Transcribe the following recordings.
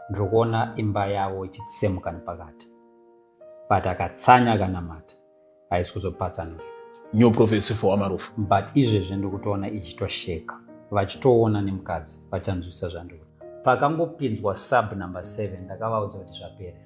ndiri kuona imba yavo ichitsemuka nepakati but akatsanya akanamata haisi kuzopatsanurika new prophecy for amarufu but izvezvi ndiri kutoona ichitosheka vachitoona nemukadzi vachanzwisa zvandiri pakangopinzwa sub number 7 ndakavaudza kuti zvaperera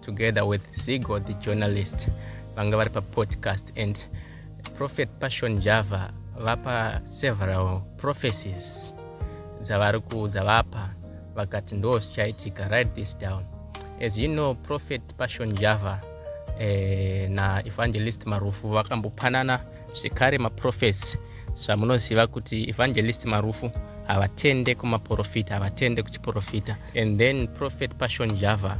together with Zigo the journalist vanga vari papodcast and prophet passion java vapa several prophecies dzavari kuudza vapa vakati ndo zvichaitika write this down as you know prophet passion java eh, na evangelist marufu vakambopanana zvekare maprofesi zvamunoziva kuti evangelist marufu havatende kumaprofita havatende kuchiprofita and then prophet passion java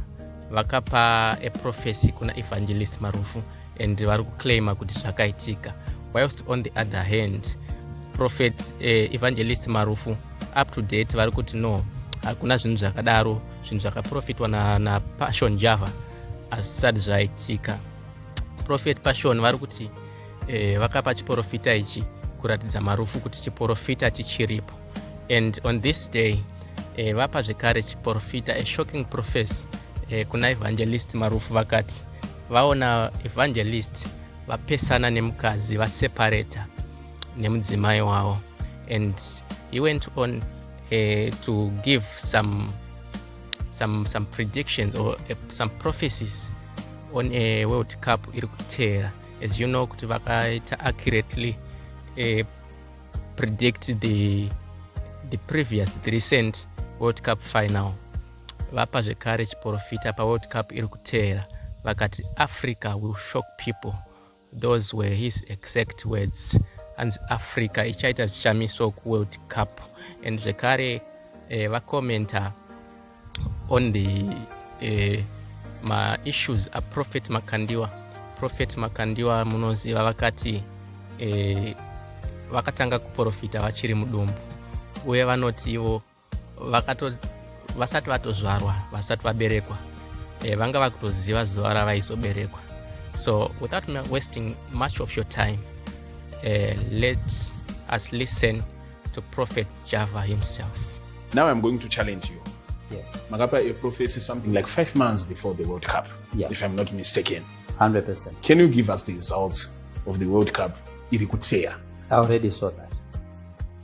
vakapa eprofesi kuna evangelist marufu and vari kuclaima kuti zvakaitika whilst on the other hand prophet eh, evangelist marufu up to date vari kuti no hakuna zvinhu zvakadaro zvinhu zvakaprofitwa napassion na java hazvisati zvaitika prophet passion vari kuti eh, vakapa chiporofita ichi kuratidza marufu kuti chiporofita chichiripo and on this day eh, vapa zvekare chiporofita a shocking profess eh, kuna evangelist marufu vakati vaona evangelist vapesana nemukadzi vaseparata nemudzimai wavo and he went on eh, to give some some, some predictions or uh, some prophecies on a world cup iri kuteera as you know kuti vakaita accurately uh, predict the, the previous the recent world cup final vapa zvekare chiporofita paworld cup iri kuteera vakati africa will shock people Those were his exact words hanzi Africa ichaita zvishamiso kuWorld Cup and zvekare eh, vacommenta on the eh, maissues aprophet Makandiwa prophet Makandiwa munoziva vakati eh, vakatanga kuprofita vachiri mudumbu uye vanoti ivo vakato vasati vatozvarwa vasati vaberekwa eh, vanga vakutoziva zuva ravaizoberekwa so without wasting much of your time eh, let us listen to prophet java himself now i'm going to challenge you yes. makapa a prophecy something like five months before the world cup yeah. if i'm not mistaken 100% can you give us the results of the world cup iri kutseya i already saw that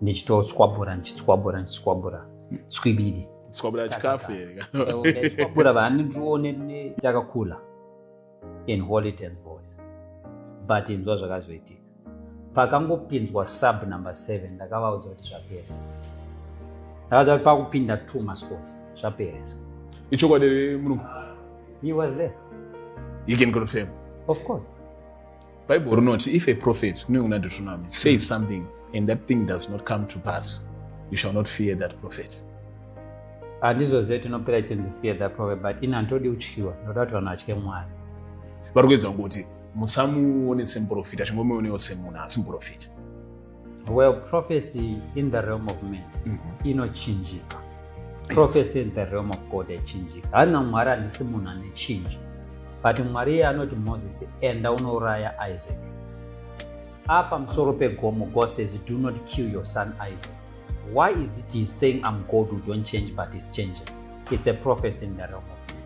ndichitoswabura ndichiswabura ndichiswabura swibidi swabura chikafu swabura vandione takakula in holy tens voice but inzwa zvakazoitika pakangopinzwa sub number seven ndakavaudza kuti zvapera ndakadza kuti pakupinda two masports zvaperesa ichokwadi munhu he was there you can confirm of course bible rinoti if a prophet kune kuna deuteronomy save something and that thing does not come to pass you shall not fear that prophet handizo zive tinopera chinzi fear that prophet but ini handitodi kutyiwa ndoda kuti vanhu vatye mwari vari kuedza kuti musamuone semuprofita chingomuonewo semunhu asi muprofita well prophecy in the realm of man mm -hmm. inochinjika prophecy in the realm of god yachinjika haina mwari handisi munhu ane chinji but mwari iye anoti moses enda unouraya isaac apa musoro pegomo god says do not kill your son isaac why is it he saying i'm god who don't change but is changing it's a prophecy in the realm of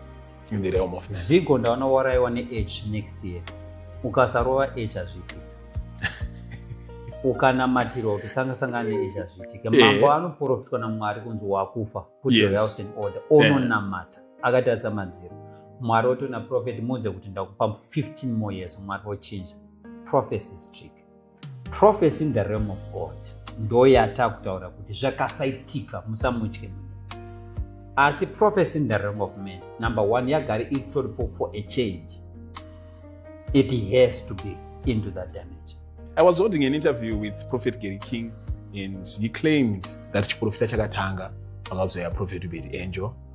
in the realm of men. Zigo ndaona waraiwa ne H next year. Ukasarova H azviti. Ukanamatirwa kuti sanga sanga ne H azviti. Mambo yeah. anoprofitwa na Mwari kunzi wakufa. Put yes. your house in order. Ononamata. Yeah. Akatarisa madziro. Mwari otona prophet muudze kuti ndakupa 15 more years. Mwari ochinja. Prophecy is trick. prophecy in the realm of god ndoyata kutaura kuti zvakasaitika musamutye munhu asi prophecy in the realm of man number one yagari itoripo for a change it has to be into that dimension i was holding an interview with prophet gary king and he claimed that chiprofita chakatanga pakazoya prophet ubedi angel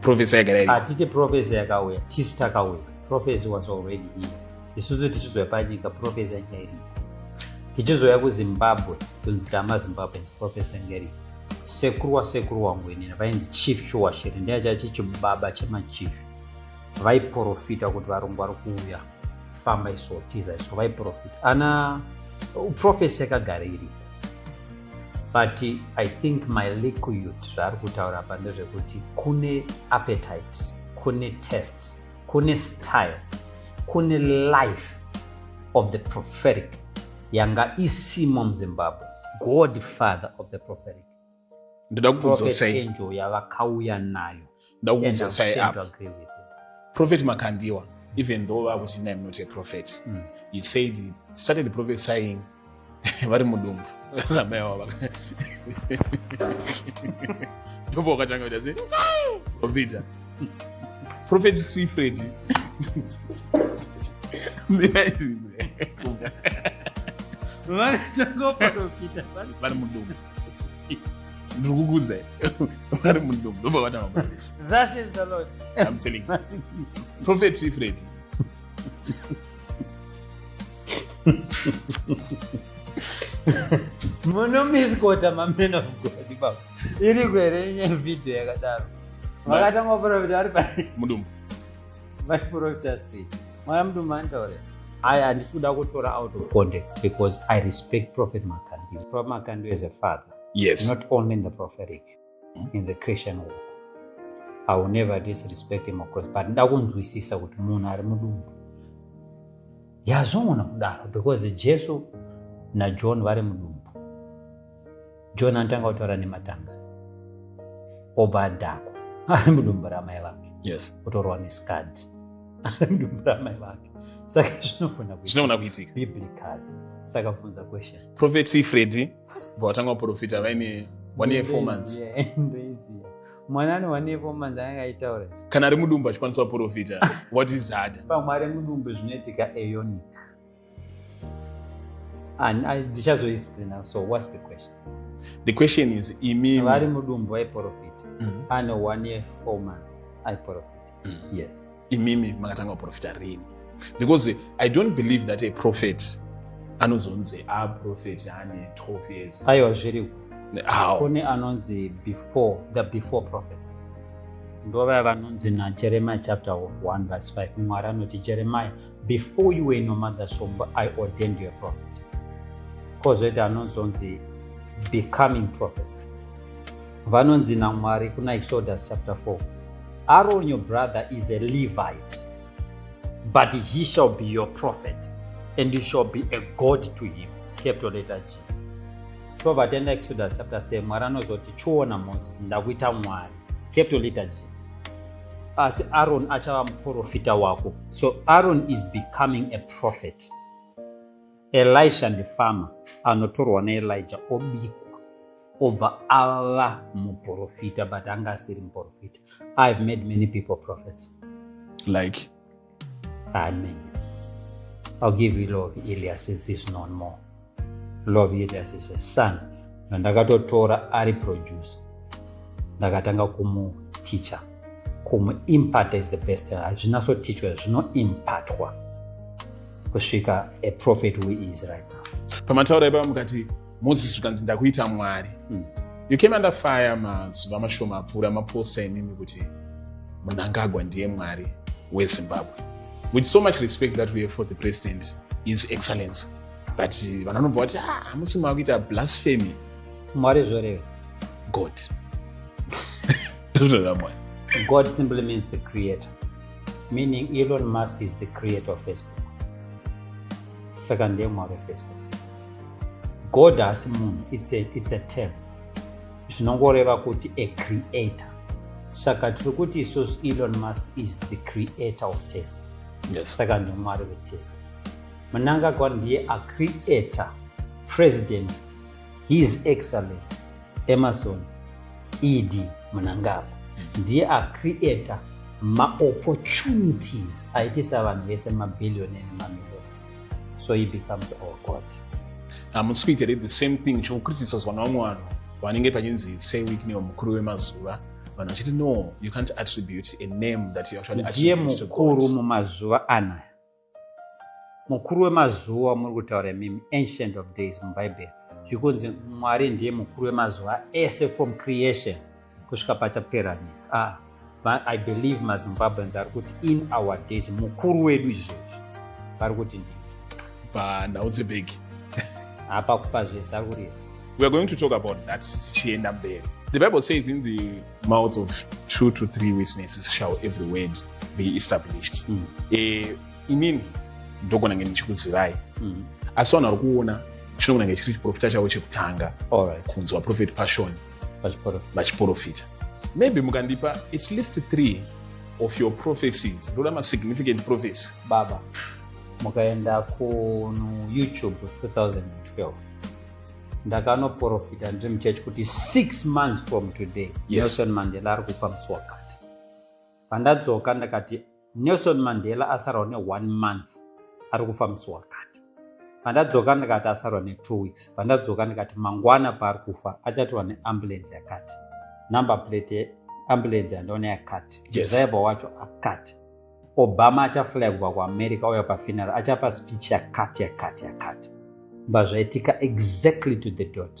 profesi yagara iri hatiti profesi yakauya tisu takauya profesi was already here isusu tichizoya panyika profesi yanga iripo tichizoya kuzimbabwe kunzi tama zimbabweans profesi yanga iripo sekuru wasekuru wangu inini vainzi chief shuwashiri ndiye chachichibaba chemachief vaiprofita kuti varungu vari kuuya famba iso tiza iso vaiprofit ana uprofesi yakagara iri but i think my liquid zvaari kutaura pa ndezvekuti kune appetite kune test kune style kune life of the prophetic yanga isimo muzimbabwe godfather of the prophetic ndoda kukuzotsai yavakauya nayo ndoda kukuzotsai apa prophet makandiwa even though vakuti nai not a prophet mm. he said he started prophesying vari mudumbu ramai avo ndobva wakatanga kuita se obvita prophet sifredi vari mudumbu ndiri kukuudzai vari mudomo ndobva vatanga thus is the lord i'm telling you prophet sifredi munomiskota mamen of god baba iri kuhere inye video yakadaro vakatanga kuprofita ari pa mudumbu vaiprotesti mwana mudu mandaure I handisi kuda kutora out of context because I respect Prophet Makandu. Prophet Makandu is a father. Yes. Not only in the prophetic, hmm? in the Christian world. I will never disrespect him of course, but nda kunzwisisa kuti munhu ari mudumbu. Yazvongona kudaro because Jesu naJohn vari mudumbu. john anotanga kutaura nematangs obva adhakwa ari mudumbu ramai vake yes. kutorwa neskadhi ari mudumbu ramai vake saka zvinogona kuitika biblical saka funza question prophecy fredi bva vatanga kuprofita vaine one year four months ndoiziva mwana ane one year four months anenge aitaura kana ari mudumbu achikwanisa kuprofita what is harder pamwe ari mudumbu zvinoitika eonic And I ndichazoisipri now. So what's the question? The question is imimi vari mudumbu aiprofita mm-hmm. ane one year four months aiprofita mm. yes imimi makatanga kuprofita rini because i don't believe that a prophet anozonzi a prophet ane 12 years aiwa zviri kune anonzi before the before prophets ndovaya vanonzi najeremiya chapter 1 verse 5 mwari anoti jeremiya before you were in your mother's womb i ordained you a prophet kozoita anozonzi becoming prophets vanonzi namwari kuna exodus chapter 4 aron your brother is a levite but he shall be your prophet and you shall be a god to him capital letter g tobva taenda exodus chapter 7 mwari anozoti chiona moses ndakuita mwari capital letter g asi aron achava muprofita wako so aron is becoming a prophet elisha ndifarmer anotorwa naelija obikwa obva ava muprofita but anga asiri muprofita ihave made many people prophets like Amen. I'll give you love Elias is his known more. Love Elias is a son. Na ndakatotora ari producer. Ndakatanga kumu teacher. Kumu impart is the best. Hazvina so teacher zvino impartwa. Kusvika a prophet who is right now. Pamataura ipa mukati moses zvikanzi ndakuita mwari mm. you came under fire mazuva mashoma apfuura maposta imimi kuti munangagwa ndiye mwari wezimbabwe with so much respect that we have for the president his excellence but vanhu vanobva vati ah, hamusi makuita blasphemy mwari zvoreve god zvoreva mwari god simply means the creator meaning elon musk is the creator of facebook saka ndiye mwari wefacebook god haasi munhu it's a, it's a term zvinongoreva kuti a creator saka tiri kuti isusu elon musk is the creator of test yes. saka ndimwari vetest mnangagwa ndiye acreator president his excellent emerson ed mnangagwa ndiye acreator maopportunities aitisa vanhu vese mabhillioni nemamillion so he becomes our god hamusi kuita here the same thing chokukritisazwa navamwe vanhu vanenge pachinzi say week neo mukuru wemazuva vanhu vachiti no you can't attribute a name that you actually ndiye mukuru mumazuva anaya mukuru wemazuva muri kutaura mimi ancient of days mubhaibheri zvikunzi mwari ndiye mukuru wemazuva ese from creation kusvika pachapera nyika ah, but i believe mazimbabweans ari kuti in our days mukuru wedu izvezvi vari kuti ndi panhau dzebhegi hapa kupa zvese ari kurira we are going to talk about that tichienda mberi the bible says in the mouth of two to three witnesses shall every word be established mm. e, inini ndogona nge ndichikuzivai mm. asi vanhu vari kuona chinokunange chiri chiprofita chavo chekutanga kunzwa prophet passion vachiporofita maybe mukandipa at least three of your prophecies ndoda masignificant prophecy baba mukaenda kuyoutube 2012 ndakanoprofita ndiri muchechi kuti six months from today yes. nelson mandela ari kufa musi wakati Pandadzoka ndakati Nelson Mandela asarwa ne one month ari kufa musi wakati. Pandadzoka ndakati asarwa ne two weeks. Pandadzoka ndakati mangwana paari kufa achatorwa ne ambulance yakati. Number plate ambulance yandaona yakati. Yes. Driver wacho akati. Obama achaflagwa kuAmerica oya pafuneral achapa speech yakati yakati yakati. Mbazvaitika exactly to the dot.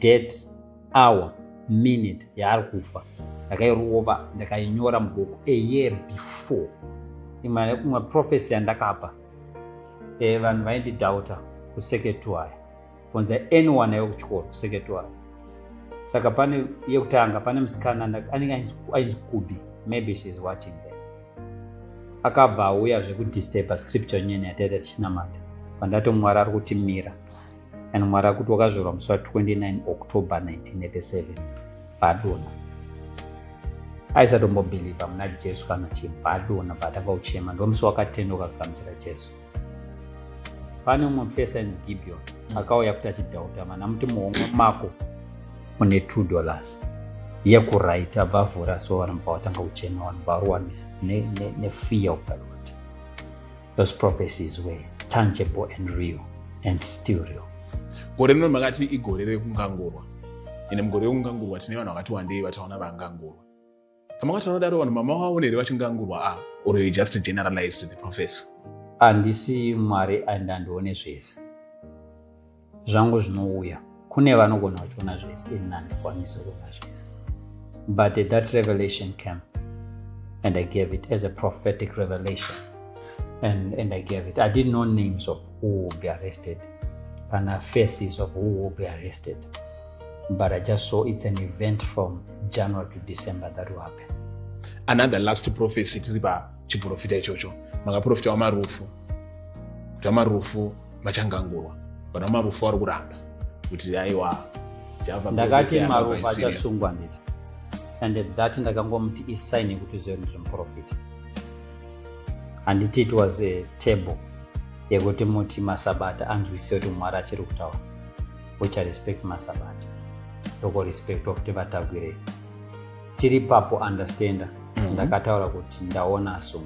date hour minute yaari kufa ndakairova ndakainyora mubhuku a year before imane kumwe profesi yandakapa e, vanhu vaindidhauta kuseketwaya bvunza anyone ayo kuchikoro kuseketwaya saka pane yekutanga pane musikana anenge ainzi kubi maybe sheis watching the akabva auya zvekudisturba scripture nyene yataita tichinamata pandatomwari ari kuti mira and mwari akuti wakazvarwa musi wa 29 october 1987 bhadona aisatombobhilivha muna jesu kana chibhadona paatanga kuchema ndomusi wakatendeuka kugamuchira jesu pane umwe mufesa inzi gibeon mm. akauya futi achidhauta mana muti muhomwe mako une two dollars yekuright abva avhura so vanhu pawatanga kuchema vanhu varuwanisa nefear ne, ne of the lord Those prophecies were tangible and real and still real. Gore rino makati igore rekungangurwa. Ine mugore rekungangurwa tine vanhu vakati wandei vataona vangangurwa. Kama kwati vanodaro vanhu mama wavo nere vachingangurwa a ah, or you just generalized the prophecy. Andisi Mwari and andione zvese. zvangu zvinouya kune vanogona vachiona zvese ini handikwanisi kuona zvese but that revelation came and i gave it as a prophetic revelation and, and i gave it i didn't know names of who will be arrested kana faces of who will be arrested but i just saw it's an event from january to december that will happen another last prophecy tiri pachiprofita ichocho makaprofita wamarufu kuti wamarufu vachangangurwa pana marufu ari kuramba kuti aiwa ndakati marufu achasungwa nditi and at that ndakangomuti isign yekuti uzive kuti ndimuprofita handiti it was a table yekuti muti masabata anzwisise kuti mwari achiri kutaura ucha respect masabata tokorespect ofuti vatagwirei tiri papo understander mm -hmm. ndakataura kuti ndaona so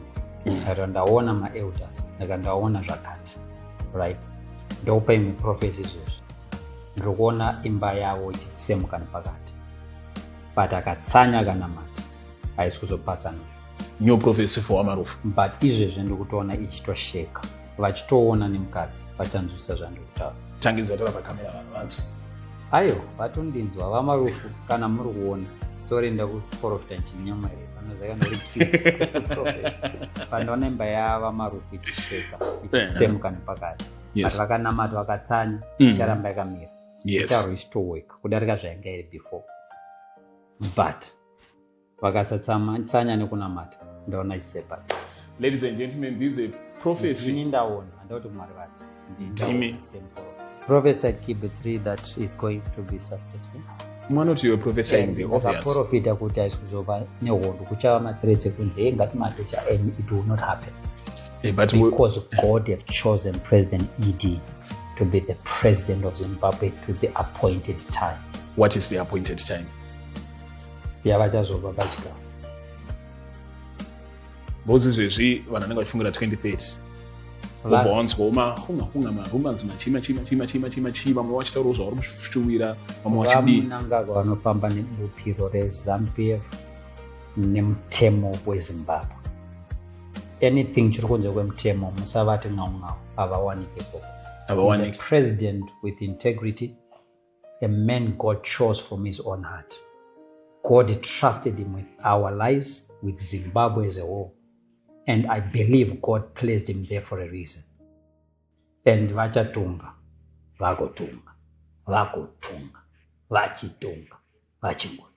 mm. ndakata ndaona maelders ndakata ndaona zvakati right ndokupa imwe profesi izvozvi ndiri kuona imba yavo ichitsemuka nepakati but akatsanya akanamata haisi kuzopatsana new prophecy for amarufu but izvezvi ndiri kutoona ichitosheka vachitoona nemukadzi vachanzwisa zvandiri kutaura tanginzwa tara pakamera vanhu vanzi ayo vatondinzwa vamarufu kana muri kuona sori ndakuprofita ndichinyamaira panoona imba yavamarufu ichisveka ichisemuka nepakati but vakanamata vakatsanya mm. icharamba yakamira itauro isitoweka kudarika zvainga iri before but vakasatsanya nekunamata ndaona chisepa ladies and gentlemen ndidzo prophecy ini ndaona andauti mwari vacho ndimi prophesied kb 3 that is going to be successful mwana kuti iwe prophesying the obvious akaprofita kuti haisi kuzova nehondo kuchava mathreats ekunzi hey ngatimate chaenyu it will not happen hey, but because we... god have chosen president ed to be the president of zimbabwe to the appointed time what is the appointed time yavachazopa pachikafu bhozi zvezvi vanhu vanenge vachifungira 2030 ubva wanzwa mahunga hunga marumans machima chima chima chima chima chima vamwe vachitaurawo zvavari kushuwira vamwe vachidiinangagwa vanofamba nebupiro rezampf nemutemo wezimbabwe anything chiri kunze kwemutemo musavati ngaungau havawanike koko president with integrity a man God chose from his own heart. God trusted him with our lives, with Zimbabwe as a whole. And I believe God placed him there for a reason. And vachatunga, vagotunga, vagotunga, vachitunga, vachingotunga.